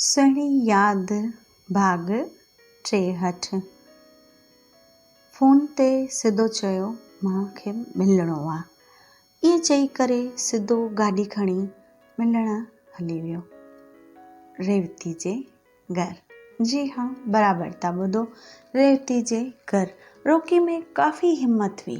سهڻي ياد ڀاڳ ٽيهٺ. فون تي سڌو چيو مان کي ملڻو آ. ائين چئي ڪري سڌو گاڏي کڻي ملڻ هلي ويو ريوتي جي گهر. جي ها برابر ٿا ٻڌو ريوتي جي گهر. روڪي ۾ ڪافي همت هئي.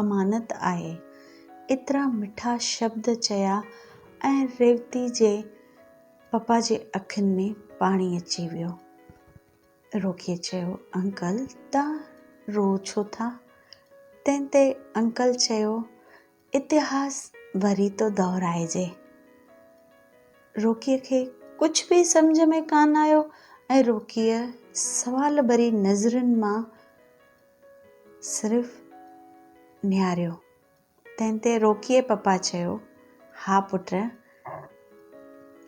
امانت آهي. ايترا مٺا شبد چيا ۽ ريوتي جي پپا جي اکين ۾ پاڻي اچي ويو. روڪيء چيو، انڪل توهان رو ڇو ٿا؟ تنهن تي انڪل چيو، اتهاس وري ٿو دهرائجي. روڪيء کي ڪجهه به سمجهه ۾ ڪانه آيو ۽ روڪيء سوال ڀري نظرن مان صرف نهاريو. تنهن تي روڪيء پپا چيو، ها پٽ،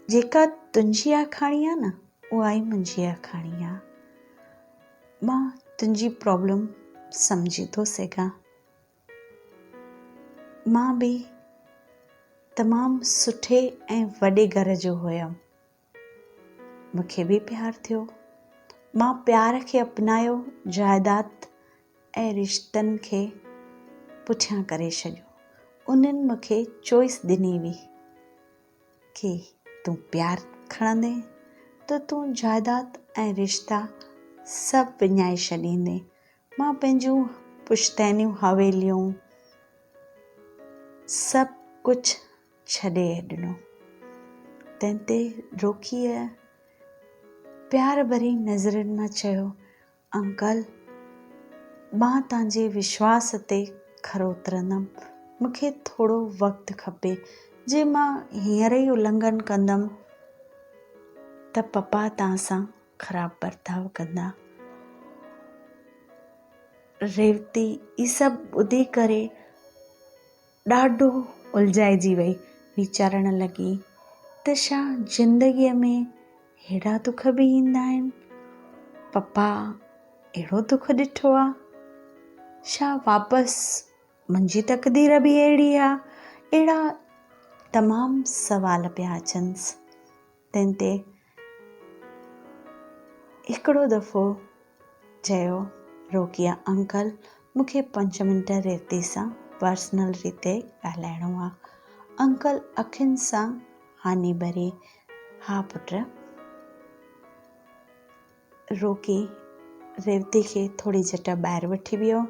جيڪا تنهنجي آکاڻي آ نه، اها ئي منهنجي آکاڻي آ. مان تنهنجي پرابلم سمجهي ٿو سگهان. مان به تمام سٺي ۽ وڏي گهر جو هيم. مون کي به پيار ٿيو. مان پيار کي اپنايو، جائداد ۽ رشتن کي پٺيان ڪري ڇڏيو. انهن مون کي چوائس ڏني هئي ڪي تون پيار کڻندين ته تون جائداد ۽ رشتا سڀ وڃائي ڇڏيندين. مان پنهنجون پشتينيون حويليون سڀ ڪجهه ڇڏي ڏنو. تنهن تي روڪيء پيار ڀري نظرن مان چيو، انڪل! مان توهان جي وشواس تي کرو اترندم. مون کي ٿورو وقت کپي. جي مان هينئر ئي النگهن ڪندم ته پپا توهان سان خراب برتاء ڪندا. ريوتي هي سڀ ٻڌي ڪري ڏاڍو الجهائجي وئي، ويچارڻ لڳي ته ڇا زندگيء ۾ ههڙا دک به ايندا آهن؟ پپا اهڙو دک ڏٺو آ؟ ڇا واپس منهنجي تقدير به اهڙي آ؟ اهڙا تمام سوال پيا اچنس، تنهن تي هڪڙو دفعو چيو روڪيا انڪل مونکي پنج منٽ ريوتي سان پرسنل ريتي ڳالهائڻو آ. انڪل اکين سان هاني ڀري، ها پٽ. روڪي ريوتي کي ٿوري جٽا ٻاهر وٺي ويو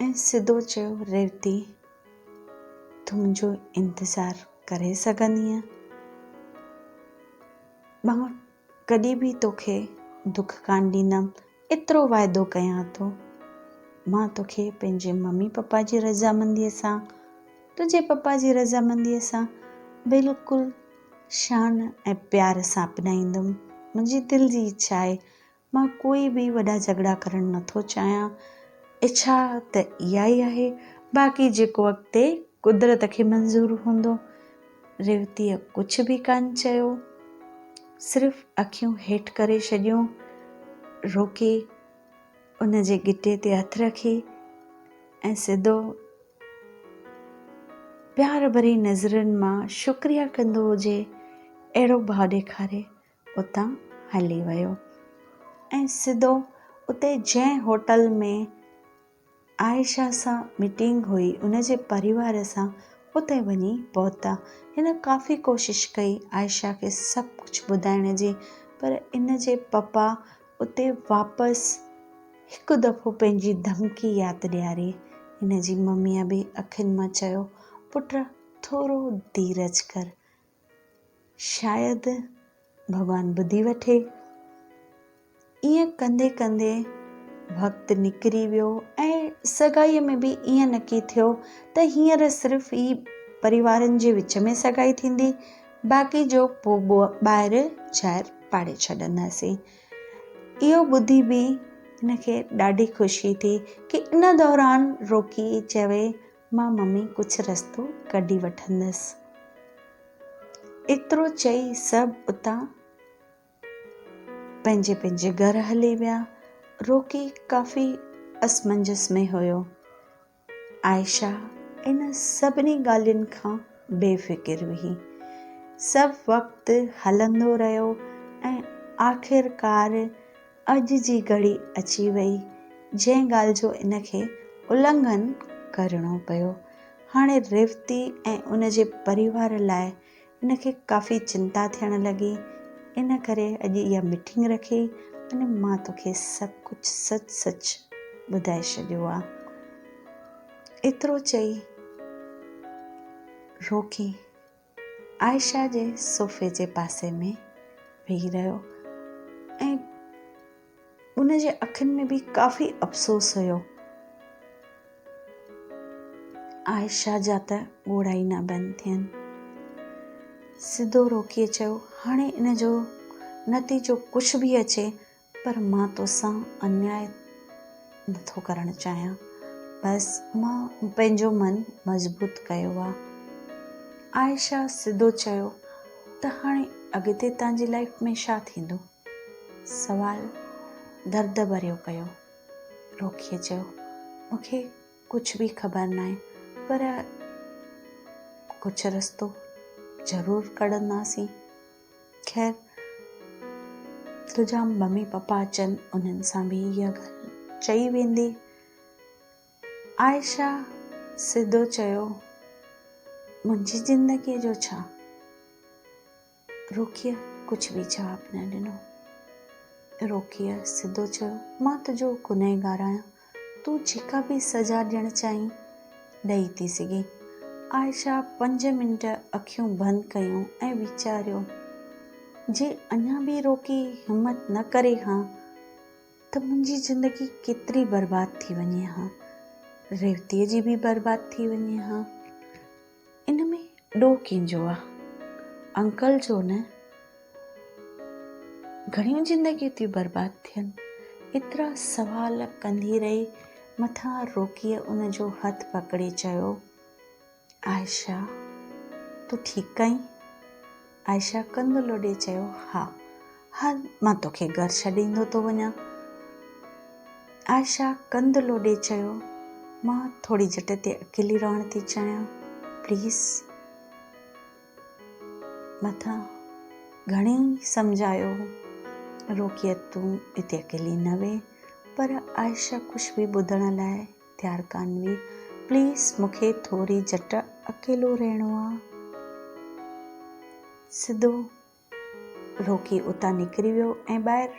۽ سڌو چيو ريوتي تون منهنجو انتظار ڪري سگهندينء مان ڪڏهن به توکي دک ڪان ڏيندم ايترو واعدو ڪيان ٿو مان توکي پنهنجي ممي پپا جي رضامنديء سان تنهنجي پپا جي رضامنديء سان بلڪل شان ۽ پيار سان اپنائيندم. منهنجي دل جي اڇا آهي. مان ڪوئي به وڏا جهڳڙا ڪرڻ نه ٿو چاهيان. اڇا ته اها ئي آهي. باقي جيڪو اڳتي قدرت کي منظور هوندو. ريوتيء ڪجهه به ڪانه چيو. صرف اکيون هيٺ ڪري ڇڏيون. روڪي. ان جي گٽي تي هٿ رکي ۽ سڌو پيار ڀري نظرن مان شڪريا ڪندو هجي اهڙو ڀاء ڏيکاري اتان هلي ويو ۽ سڌو اتي جنهن هوٽل ۾ عائشه سان ميٽنگ هئي ان جي پريوار سان اتي وڃي پهتا هن ڪافي ڪوشش ڪئي عائشه کي سڀ ڪجهه ٻڌائڻ جي پر ان جي پپا اتي واپس هڪ دفعو پنهنجي ڌمڪي ياد ڏياري هن جي مميء به اکين مان چيو پٽ ٿورو ڌيرج ڪر شايد ڀڳوان ٻڌي وٺي. ائين ڪندي ڪندي وقت نڪري ويو ۽ سگائيء ۾ به ائين نڪي ٿيو ته هينئر صرف ئي پريوارن جي وچ ۾ سگائي ٿيندي باقي جو پوء ٻاهر شهر پاڙي ڇڏنداسين. اهو ٻڌي به هن کي ڏاڍي خوشي ٿي ڪي ان دوران روڪي چوي مان ممي ڪجهه رستو ڪڍي وٺندس. ايترو چئي سڀ اتان پنهنجي پنهنجي گهر هلي ويا. روڪي ڪافي اسمنجس ۾ هيو. عائشه ان سڀني ڳالهين کان بي فڪر هئي. سڀ وقت هلندو رهيو ۽ آخرڪار اڄ جي گهڙي اچي وئي جنهن ڳالهه جو ان کي النگهن ڪرڻو پيو. هاڻي ريوتي ۽ ان جي پريوار لاء ان کي ڪافي چنتا ٿيڻ لڳي. ان ڪري اڄ اها ميٽنگ رکي ۽ مان توکي سڀ ڪجهه سچ سچ ٻڌائي ڇڏيو آ. ايترو چئي روڪي. عائشه جي صوفي جي پاسي ۾ ويهي رهيو ۽ ان جي اکين ۾ به ڪافي افسوس هيو عائشه جا ته ڳوڙها ئي نه بند ٿين سڌو روڪي چيو هاڻي ان جو نتيجو ڪجهه به اچي پر مان توسان انياء نه ٿو ڪرڻ چاهيان. بس مان پنهنجو من مضبوط ڪيو آ. عائشه سڌو چيو ته هاڻي اڳتي تنهنجي لائيف ۾ ڇا ٿيندو؟ سوال درد ڀريو ڪيو. روڪيء چيو مون کي ڪجهه به خبر ناهي پر ڪجهه رستو ضرور ڪڍنداسين. خير تنهنجا ممي پپا اچن انهن سان به اها ڳالهه چئي ويندي عائشه سڌو چيو منهنجي زندگي جو ڇا روکيء ڪجهه به جواب نه ڏنو روکيء سڌو چيو مان تنهنجو گنهگار آهيان تون جيڪا به سزا ڏيڻ چاهين، ڏئي ٿي سگهين. عائشه پنج منٽ اکيون بند ڪيون ۽ ويچاريو، جي اڃا به روڪي همت نه ڪري ها ته منهنجي زندگي ڪيتري برباد ٿي وڃي ها. ريوتيء جي به برباد ٿي وڃي ها. ان ۾ ڏوهه ڪينجو آ. انڪل جو نه گهڻيون زندگيون ٿيون برباد ٿين. ايترا سوال ڪندي رهي مٿان روڪيء ان جو هٿ پڪڙي چيو، عائشه تون ٺيڪ ڪئين؟ عائشه ڪنڌ لوڏي چيو، ها، هل مان توکي گهر ڇڏيندو ٿو وڃان. عائشه ڪنڌ لوڏي چيو، مان ٿوري جٽ تي اڪيلي رهڻ ٿي چاهيان، پليز. مٿان گهڻي سمجهايو هو، روڪيت تون هتي اڪيلي نه ويهه، پر عائشه ڪجهه به ٻڌڻ لاء پيارڪانوي پليز مونکي ٿوري جهٽ اڪيلو رهڻو آ. سڌو روڪي اتان نڪري ويو ۽ ٻاهر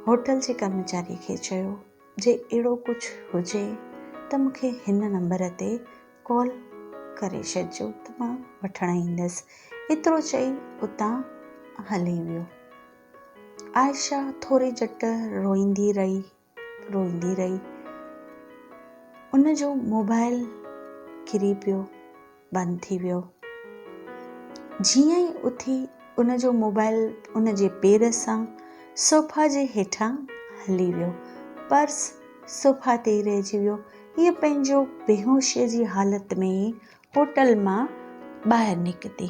هوٽل جي ڪرمچاري کي چيو جي اهڙو ڪجهه هجي ته مونکي هن نمبر تي ڪال ڪري ڇڏجو ته مان وٺڻ ايندس. ايترو چئي اتان هلي ويو. عائشه ٿوري جهٽ روئيندي رهي روئيندي رهي. ان جو موبائل ڪري پيو بند ٿي ويو. جيئن ئي اٿي ان جو موبائل ان جي پير سان صوفا جي هيٺان هلي ويو. پرس صوفا تي ئي رهجي ويو. هيء پنهنجو بيهوشيء جي حالت ۾ ئي هوٽل مان ٻاهر نڪتي.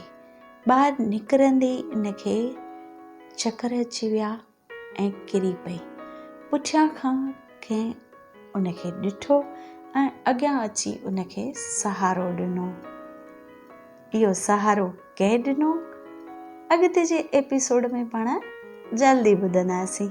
ٻاهر نڪرندي ئي ان کي چڪر اچي ويا. ۽ ڪري پئي. پٺيان کان ڪنهن ان کي ڏٺو ۽ اڳيان اچي ان کي سهارو ڏنو. اهو سهارو ڪنهن ڏنو؟ اڳتي جي ايپيسوڊ ۾ پاڻ جلدي ٻڌنداسين.